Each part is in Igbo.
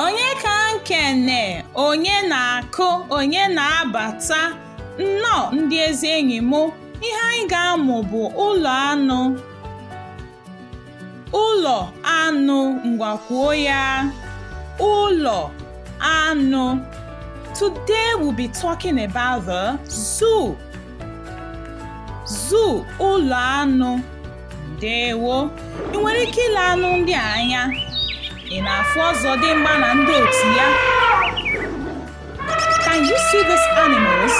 onye ka nkene onye na-akụ onye na-abata nnọọ ndị ezi enyi m ihe anyị ga-amụ bụ ụlọ anụ ụlọ anụ ngwa kwuo ya ụlọ anụ today we'll be talking about the zoo zoo ụlọ anụ ndewo ị nwere ike ile anụ ndị a anya ị na-afụ ọzọdimgba na ndị otu ya can you see these animals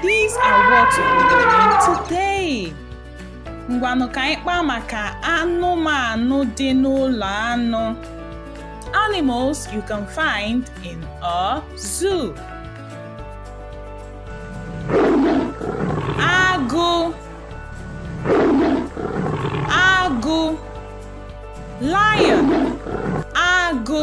these are what we doing today ngwanụ ka anyị kpaa maka anụmanụ dị n'ụlọ anụ animals you can find in a zoo agụ agụ lion agụ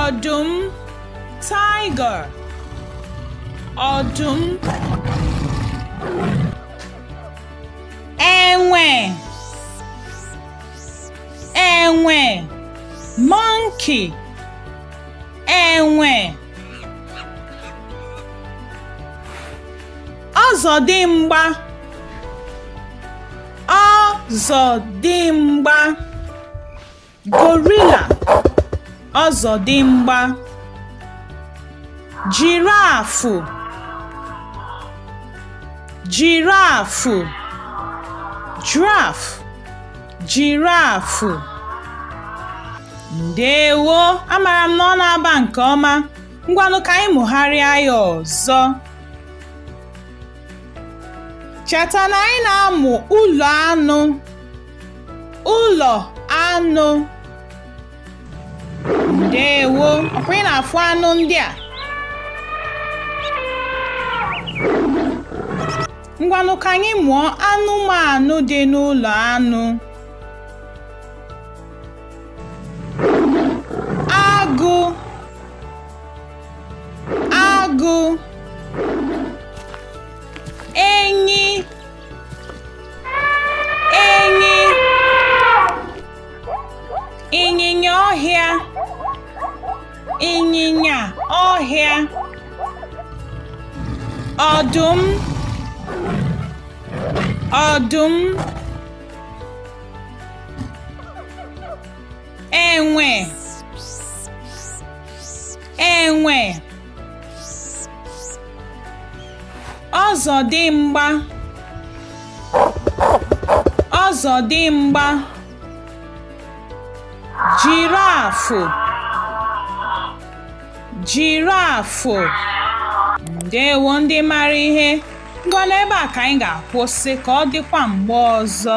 ọdụm tiger ọdụm enwe enwe monkey enwe ọzọdimgba ọzọdimgba gorilla ọzọdimgba jirafụ jirafụ giraffe jirafụ ndewo amara m na ọ na-aba nke ọma ngwanụ ka anyị mụgharịa ya ọzọ cheta na anyị na-amụ ụlọ anụ ụlọ anụ ndewo ọkwa ị na-afụ anụ ndị a ngwanụ ka anyị mụọ anụmanụ dị n'ụlọ anụ agụ agụ enyi ịnyịnya ọhịa ịnyịnya ọhịa ọdụm ọdụm enwe enwe ọzọdịmgba ọzọdịmgba jirafụ jirafụ ndewo ndị mara ihe ngwa n'ebe a ka anyị ga-akwụsị ka ọ dịkwa mgbe ọzọ